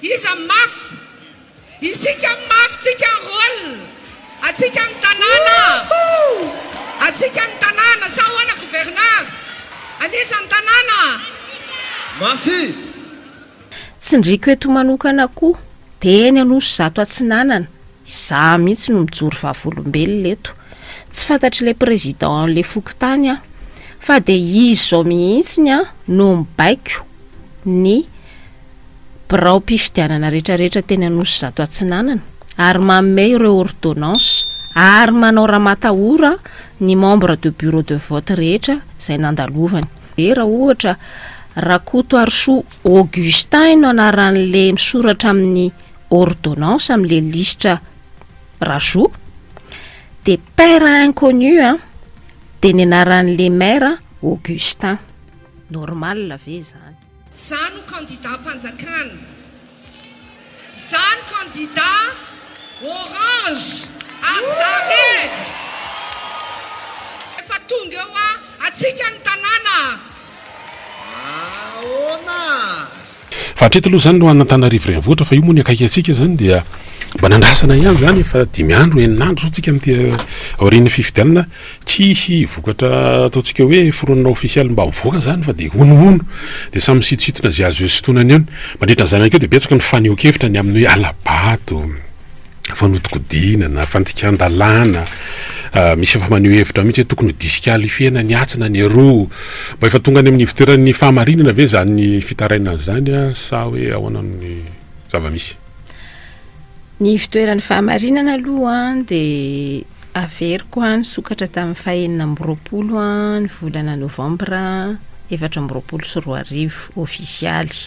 Iza ny mafy? Isika ny mafy, tsika ny rôle, atsika ny tanàna, atsika ny tanàna, sa ahoana gouverneur? An'iza ny tanàna? Mafy! Tsindriako eto manokana koa dia eny Anosizato Atsinanana Izaho mihitsy no mijoro vavolombelona eto. Tsy fantatr'ilay président an'ilay fokontany aho. Fa dia izy izao mihitsy no mibaiko ny biraom-pifidianana rehetrarehetra teny Anosizato Atsinanana ary manome ireo ordonnance ary manao ramatahora ny membre de bureau de vote rehetra izay nandalovany. Dia raha ohatra Rakotoarisoa Augustin no anaran'ilay misoratra amin'ny. ordonnance am le lisitra Rajo de père inconnu a de ny anaran le maire Augustin normal ve zany. Za no candidat mpanjakana. Za no candidat orange ary za rery. Efa tonga eo a! Atsika ny tanàna a! Ahoana? Fa hatreto aloha izany loha an'Antananarivo renivohitra fa io moa ny akaiky antsika izany dia mba nandrasana ihany izany efa dimy andro enina andro izao tsika amin'ity aorian'ny fifidianana tsy hisy vokatra ataontsika hoe foronina ofisialy mba mivoaka izany fa dia honohono dia samy misitontsitona izay azo eo sintonana eo mandritra an'izany ihany koa dia betsaka ny fanehoan-kevitra ny amin'ny hoe hala-bato fanodikodina na fandikan-dalàna misy efa maneho hevitra mihitsy hoe tokony ho disikalifena ny atsy na ny aroa mba efa tonga any amin'ny ivoteran'ny fahamarinana ve izany fitarainana izany a sa hoe ahoana ny zava-misy ny ivoteran'ny fahamarinana aloha an dia averiko an nisokatra tamin'ny fahenina amby roapolo an ny volana novambra efatra amby roapolo sy roa arivo ofisialy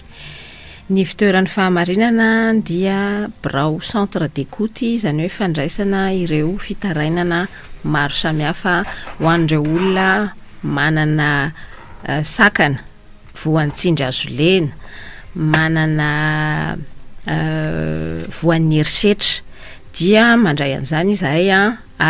Ny fitoeran'ny fahamarinana dia birao, centre d'écoute, izany hoe fandraisana ireo fitarainana maro samihafa ho an'ireo olona manana sakana voan'ny tsindry azo lena, manana voan'ny herisetra dia mandray an'izany izahay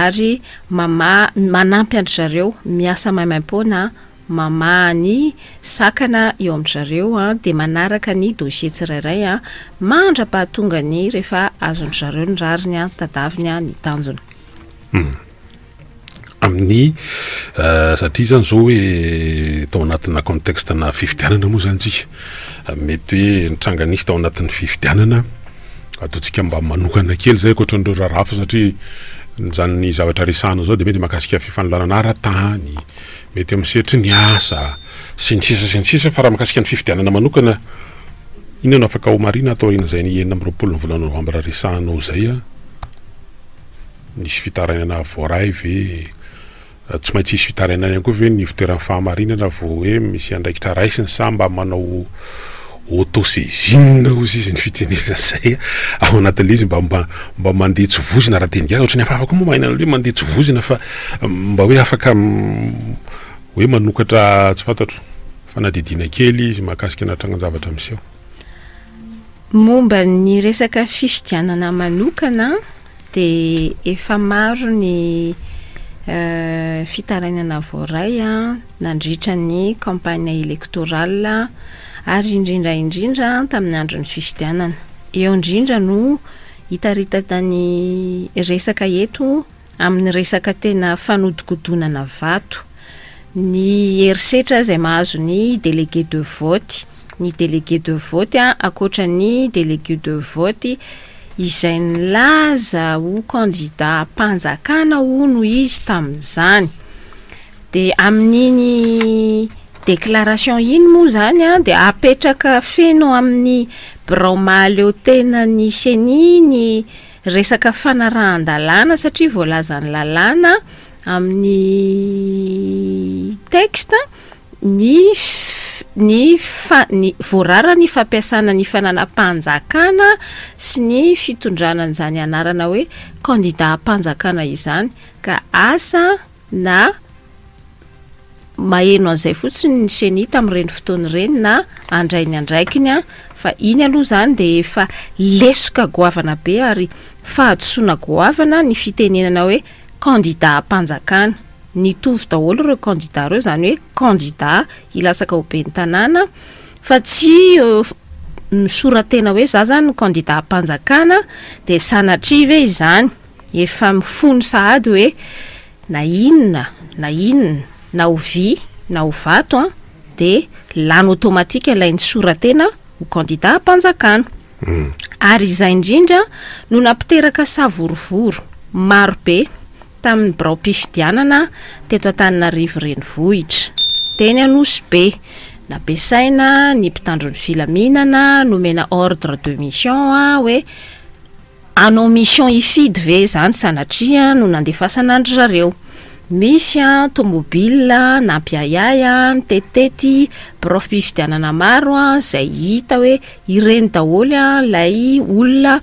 ary mamaha, manampy an-dry zareo miasa maimaim-poana. mamaha ny sakana eo amin-dry zareo dia manaraka ny dossier tsirairay mandra-pahatongany rehefa azon-dry zareo ny rariny, tadaviny ny tanjona. Amin'ny satria izany izao hoe tao anatina contexte-na fifidianana moa izany isika, mety hoe nitranga nisy tao anatin'ny fifidianana, ataontsika mba manokana kely izay ankoatran'ireo raharaha fa satria izany zavatra resahana izao dia mety mahakasika fifanolanana ara-tany, mety amin'ny sehatry ny asa, sy ny sisa sy ny sisa, fa raha mikasika ny fifidianana manokana, inona no afaka homarihina ato aorian'izay ny enina amby roapolo ny volana novambra resahana ao izay an? nisy fitarainana voaray ve? tsy maintsy hisy fitarainana ihany koa ve ny ivoteran'ny fahamarinana vao hoe misy andraikitra raisiny sa mba manao Auto-saisine ozy izy ny fitenenana zay a! Ao anatin'ilay izy mba mba mba mandeha tsy voizina raha dieny gasy, ohatran'ny hafahafa koa moa maheno an'ilay hoe mandeha tsy voizina fa mba hoe afaka hoe manokatra tsy fantatro, fanadihadiana kely izy mahakasika ana trangan-javatra miseho. Momba ny resaka fifidianana manokana an, dia efa maro ny fitarainana voaray an, nandritra ny campagne électorale ary indrindra indrindra tamin'ny andron'ny fifidianana. Eo indrindra no hitaritana ny resaka eto amin'ny resaka tena fanodikodonana vato, ny herisetra izay mahazo ny délégué de vote, ny délégué de vote ankoatra ny délégué de vote izay nilaza ho candidat am-panjakana hono izy tamin'izany. De amin'iny déclaration iny moa izany an, dia apetraka feno amin'ny birao mahaleo tena ny ceni ny resaka fanarahan-dalàna satria voalazan'ny lalàna amin'ny texte ny ny fa- ny voarara ny fampiasana ny fananam-panjakana sy ny fitondrana an'izany anarana hoe candidat am-panjakana izany ka asa na maheno an'izay fotsiny ny ceni tamin'ireny fotoana ireny na handray ny andraikiny an, fa iny aloha izany dia efa lesoka goavana be ary fahadisoana goavana ny fitenenana hoe kandidam-panjakana. Nitovy daholo ireo kandida ireo, izany hoe kandida hilatsaka ho ben'ny tanàna fa tsy misora-tena hoe za izany no kandidam-panjakana dia sanatria ve izany. Efa mifono sahady hoe na inona na inona na ho vy na ho vato an, dia lany automatique ilay nisoratena ho candidat hampanjakana. Ary izay indrindra no nampiteraka savorovoro maro be tamin'ny biraom-pifidianana teto Antananarivo renivohitra. Teny Anosy Be, nampiasaina ny mpitandro ny filaminana, nomena ordre de mission hoe, Hanao mission hifidy ve izany sanatria no nandefasana an-dry zareo. Misy an, tomobile nampiahiahy an, nitetitety biraom-pifidianana maro an, izay hita hoe ireny daholo an ilay olona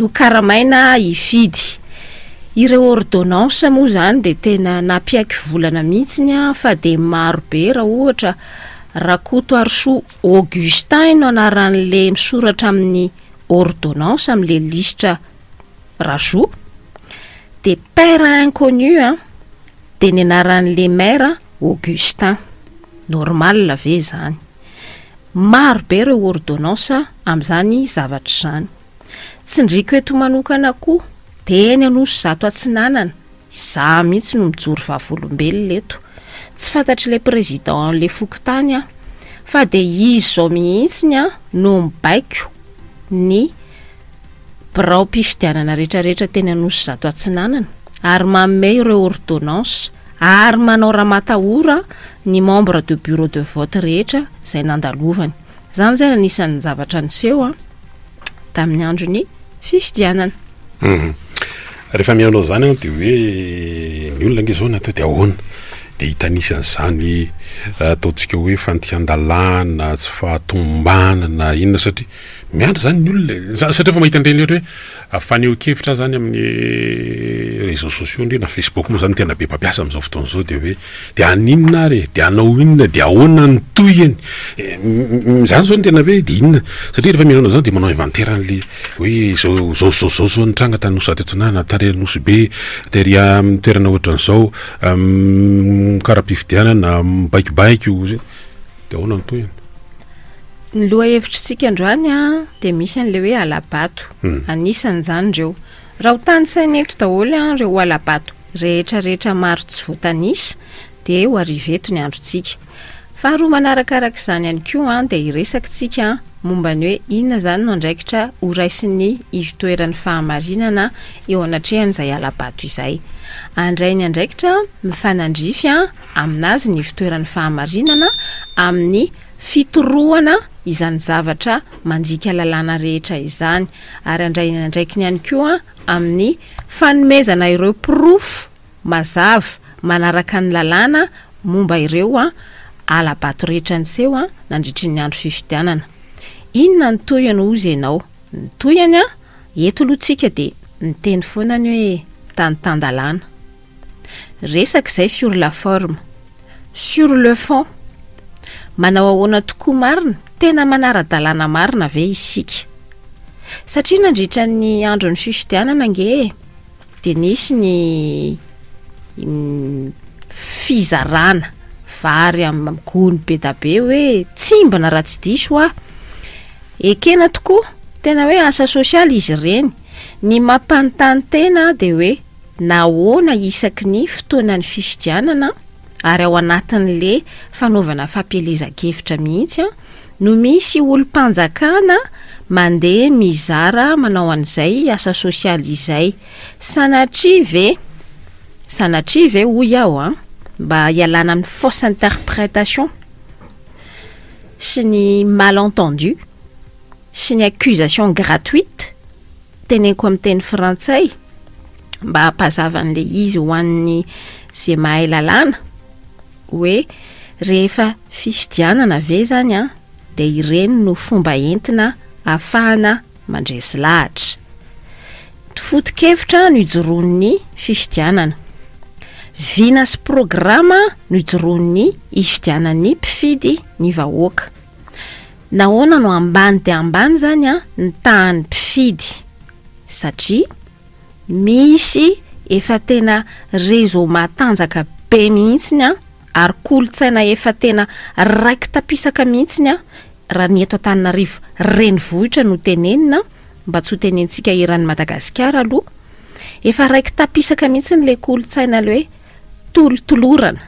nokaramaina hifidy. Ireo ordonnance moa izany dia tena nampiaiky volana mihitsy an, fa dia maro be raha ohatra Rakotoarisoa Augustin no anaran'le misoratra amin'ny ordonnance amin'le lisitra Rajo, de père inconnu an, de ny anaran'le mère Augustin, normal ve zany? Maro be reo ordonnance amin'izany zavatra izany. Tsindriako eto manokana koa dia eny Anosy zato Atsinanana, izaho mihitsy no mijoro vavolombelona eto. Tsy fantatr'ilay président le fokontany aho fa dia izy izao mihitsy ny aho no mibaiko ny biraom-pifidianana rehetrarehetra teny Anosy zato Atsinanana ary manome ireo ordonnance ary manao ramatahora ny membre de bureau de vote rehetra izay nandalovany. Izany izany anisan'ny zavatra niseho an, tamin'ny andron'ny fifidianana. Hum. Rehefa mihaino an'izany aho dia hoe ny olona ange izao natao dia ahoana? Dia hitanisa an'izany ataontsika hoe fandikan-dalàna, tsy fahatomombanana, inona satria miandry izany ny olona e. Satria efa mahita an'ireny ohatra hoe Fanehoan-kevitra zany amin'ny réseaux sociaux ndry na Facebook moa zany tena be mpampiasa amin'izao fotoana izao dia hoe dia haninona ary e? dia hanao inona? dia ahoana ny tohiny? izany zao no tena hoe dia inona? satria rehefa mihaino an'izany dia manao inventaire an'le hoe zao zao zao zao zao nitranga tany nosy Ratsitsinana, tary Anosibe, tery amin'ny toerana ohatran'izao, amin'ny kara-pifidianana, mibaikobaiko, dia ahoana ny tohiny? Ny lohahevitr'isika androany a, dia misy an'ilay hoe hala-bato, hmm. anisan'izany ireo. Raha ho tanisaina eto daholo an, ireo hala-bato rehetra rehetra maro tsy voatanisa, dia ho ariveto ny androntsika. Faharoa manarakaraka izany ihany koa an, dia hiresaka tsika momba ny hoe inona izany no andraikitra ho raisin'ny ivotoeran'ny fahamarinana eo anatrehan'izay hala-bato izay. Andray ny andraikitra mifanandrify an, aminazy ny fitoeran'ny fahamarinana amin'ny fitorohana izany zavatra mandika lalàna rehetra izany, ary handray ny andraikiny ihany koa amin'ny fanomezana ireo porofo mazava manaraka ny lalàna momba ireo hala-bato rehetra niseho nandritry ny andro fifidianana. Inona ny tohiny hozy ianao? Ny tohiny, eto aloha tsika dia miteny foana ny hoe tany tan-dalàna. Resaka izay sur la forme. Sur le fond, manao ahoana tokoa marina? Tena manara-dalàna marina ve isika? Satria nandritra ny andron'ny fifidianana ange e, dia nisy ny fizarana vary amin'ny gony be da be hoe tsimbina raha tsy diso aho. Ekena tokoa, tena hoe asa sosialy izy ireny. Ny mampanontany tena dia hoe, nahoana isaky ny fotoanan'ny fifidianana ary ao anatin'le fanaovana fampielezan-kevitra mihitsy no misy olom-panjakana mandeha mizara manao an'izay asa sosialy izay? Sanatria ve? Sanatria ve hoy aho an, mba hialana amin'ny fausse interprétation sy ny mal entendu sy ny accusation gratuite? Teneniko amin'ny teny frantsay mba hampazava an'ilay izy ho an'ny izay mahay lalàna hoe rehefa fifidianana ve izany an dia ireny no fomba entina afahana mandresy lahatra. Foto-kevitra no ijoroan'ny fifidianana. Vina sy programa no ijoroan'ny hifidianan'ny mpifidy ny vahoaka. Nahoana no ambany dia ambany izany an, ny tahan'ny mpifidy? Satria misy efa tena réseau matanjaka be mihitsiny an, ary kolontsaina efa tena raiki-tapisaka mihitsiny an, raha ny eto Antananarivo renivohitra no tenenina, mba tsy ho tenentsika eran'i Madagasikara aloha, efa raiki-tapisaka mihitsiny ilay kolontsaina ilay hoe, tolotolorana,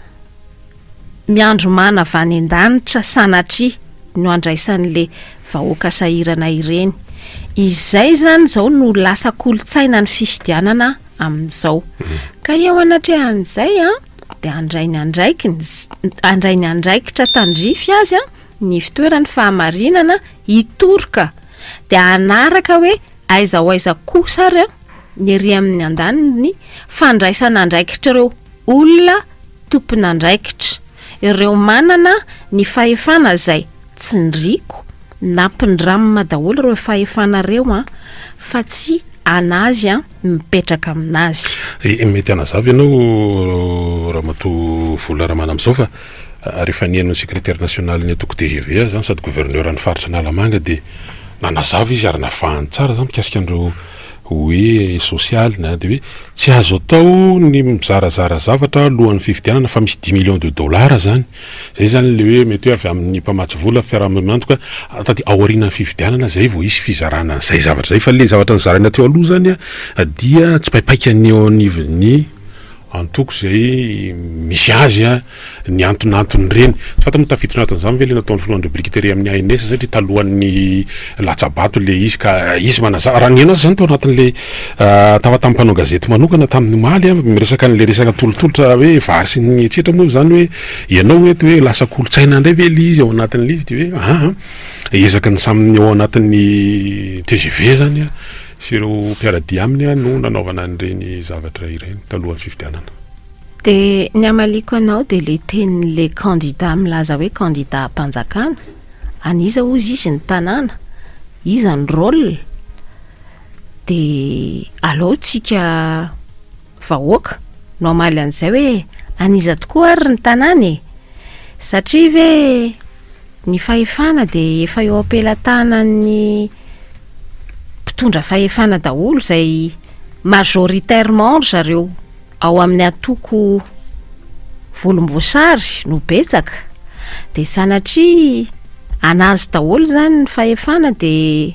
miandry mana avy any an-danitra sanatria no andraisan'le vahoaka sahirana ireny. Izay izany izao no lasa kolontsaina ny fifidianana amin'izao. Mhm. Ka eo anatrehan'izay an, dia handray ny andraikiny, handray ny andraikitra tandrify azy an, ny fitoeran'ny fahamarinana hitoroka. Dia hanaraka hoe aiza ho aiza kosa ary an, ny ery amin'ny andaniny, fandraisan'andraikitr'ireo olona tompon'andraikitra, ireo manana ny fahefana izay tsindriako, nampindramina daholo ireo fahefana ireo an, fa tsy an'azy an, mipetraka amin'azy. Mety hanazava ianao Ramatoa Vola Ramana amin'izao fa rehefa nihaino ny Secretaire nationalin'ny antoko tgv aza sady gouverneur an'ny faritra Analamanga dia nanazava izy ary navahany tsara izany mikasika an'ireo hoe sosialy na dia hoe tsy azo atao ny mizarazara zavatra alohan'ny fifidianana fa misy dix millions de dollars izany, izay izany ilay hoe mety hoe avy amin'ny mpamatsy vola, fiarahamonina mantoka dia aorianan'ny fifidianana izay vao hisy fizarana an'izay zavatra izay fa ilay zavatra nozaraina teo aloha izany dia tsipaipaika ny eo anivon'ny. antoko izay misy azy ny antonanton'ireny. Tsy fantatra moa tafiditra anatin'izany ve ilay nataon'ny filohan'ireo brikiteria amin'ny ANS satria talohan'ny latsa-bato ilay izy ka izy manazava. Raha nihaino azy izany tao anatin'ilay tafa tamin'ny mpanao gazety manokana tamin'ny omaly, miresaka an'ilay resaka tolotolotra hoe vary sy ny etsetra moa izany hoe ianao hoe toa hoe lasa kolontsaina indray ve ilay izy ao anatin'ilay izy dia hoe an, ezaky ny samy ao anatin'ny tgv izany Sy ireo mpiara-dia aminy no nanaovana an'ireny zavatra ireny talohan'ny fifidianana. Dia ny hamaliako anao dia ilay tenin'ilay kandida milaza hoe kandidam-panjakana, an'iza hozy izy ny tanàna, iza ny rôle, dia aleo tsika. Vahoaka no hamaly an'izay hoe an'iza tokoa ary ny tanàna e! Satria ve ny fahefana dia efa eo am-pelatanan'ny mpitondra fahefana daholo izay majoritairement ry zareo ao amin'ny antoko volomboasary no betsaka dia sanatria an'azy daholo izany ny fahefana dia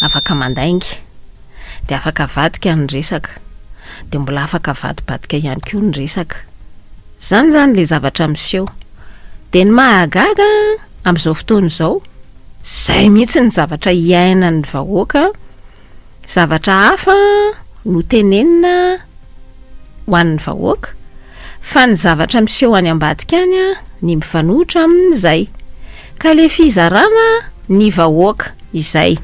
Afaka mandainga. Dia afaka avadika ny resaka. Dia mbola afaka avadibadika ihany koa ny resaka. Izany izany ilay zavatra miseho. Dia ny mahagaga amin'izao fotoana izao, izay mihitsy ny zavatra iainan'ny vahoaka, zavatra hafa no tenenina ho an'ny vahoaka, Fa ny zavatra miseho any ambadika any ny mifanohitra aminy izay. Ka le fizarana ny vahoaka izay.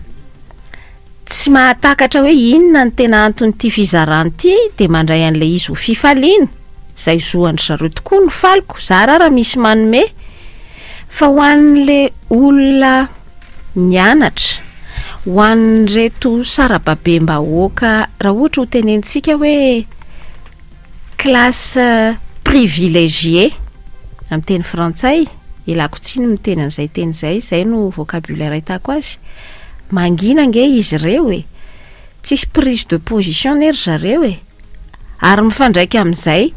Tsy mahatakatra hoe inona ny tena anton'ity fizarana ity dia mandray an'ilay izy ho fifaliana, izay zo an-dry zareo tokoa no faliko, zara ara misy manome. Fa ho an'le olona mianatra, ho an'ireto sarababem-bahoaka raha ohatra hotenenintsika hoe, Classe privilégiée, amin'ny teny frantsay, ialako tsiny ny miteny an'izay teny izay, izay no vocabulaire ahitako azy, mangina ange izy ireo e! tsisy prise de position anie ry zareo e! ary mifandraika amin'izay,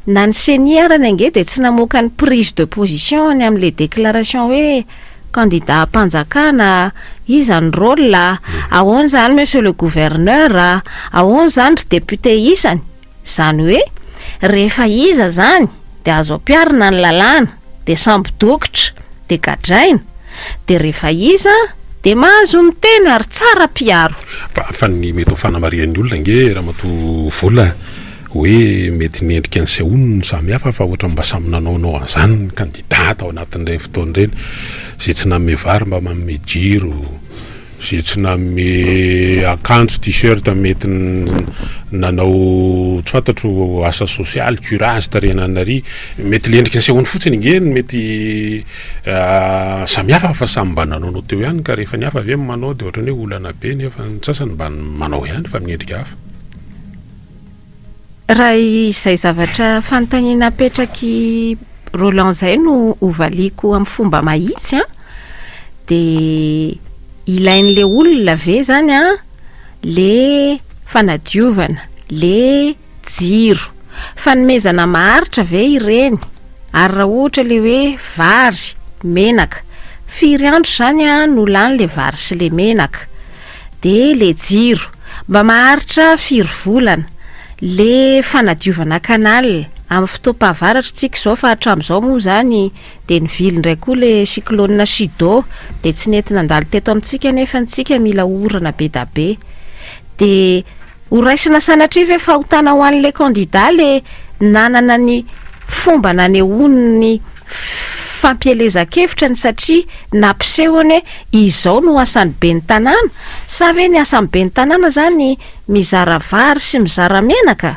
na ny ceni arany ange dia tsy namoaka ny prise de position-ny amin'ilay déclaration hoe. Candidat am-panjakana a! Iza ny rôle a? Ahoana izany monsieur le gouverneur a? Ahoana izany ry député isany? Izany hoe rehefa iza izany dia azo ampiharina ny lalàna dia sambo dokotra dia gadraina dia rehefa iza dia mahazo miteny ary tsara piaro. Fa fa ny mety ho fanamarihan'ny olona ange Ramatoa Vola. Hoe mety ny endrika nisehoany no samy hafa fa ohatran'ny mba samy nanaonao an'izany ny kandida tao anatin'ireny fotoana ireny. Izay tsy nanome vary mba manome jiro, izay tsy nanome akanjo, t-shirt, mety nanao tsy fantatro asa sosialy, curage, tarihina an'i Nari. Mety ilay endrika nisehoany fotsiny ange no mety samy hafa fa samy mba nanaonao teo ihany ka rehefa ny hafa ve manao dia ohatran'ny hoe olana be nefa ny sasany mba manao ihany fa amin'ny endrika hafa. Raha izay zavatra fanontaniana apetrak'i Roland izay no hovaliako amin'ny fomba mahitsy an, dia ilain'ilay olona ve izany an ilay fanadiovana, ilay jiro? Fanomezana maharitra ve ireny? Ary raha ohatra ilay hoe vary, menaka, firy andro izany no lany ilay vary sy ilay menaka? De le jiro. Mba maharitra firy volana. Le fanadiovana canal. Amin'ny fotoam-pahavaratra tsika izao fa hatramin'izao moa izany de nivily indray koa le cyclone Chido de tsy nety nandalo teto amintsika nefa ny tsika mila orana bedabe. De ho raisina sanatria ve fahotana ho an'le candidat le nanana ny fomba nanehoany ny fampielezan-kevitra ny satria nampisehony hoe izao no asan'ny ben'ny tanàna, sa ve ny asan'ny ben'ny tanàna izany mizara vary sy mizara menaka?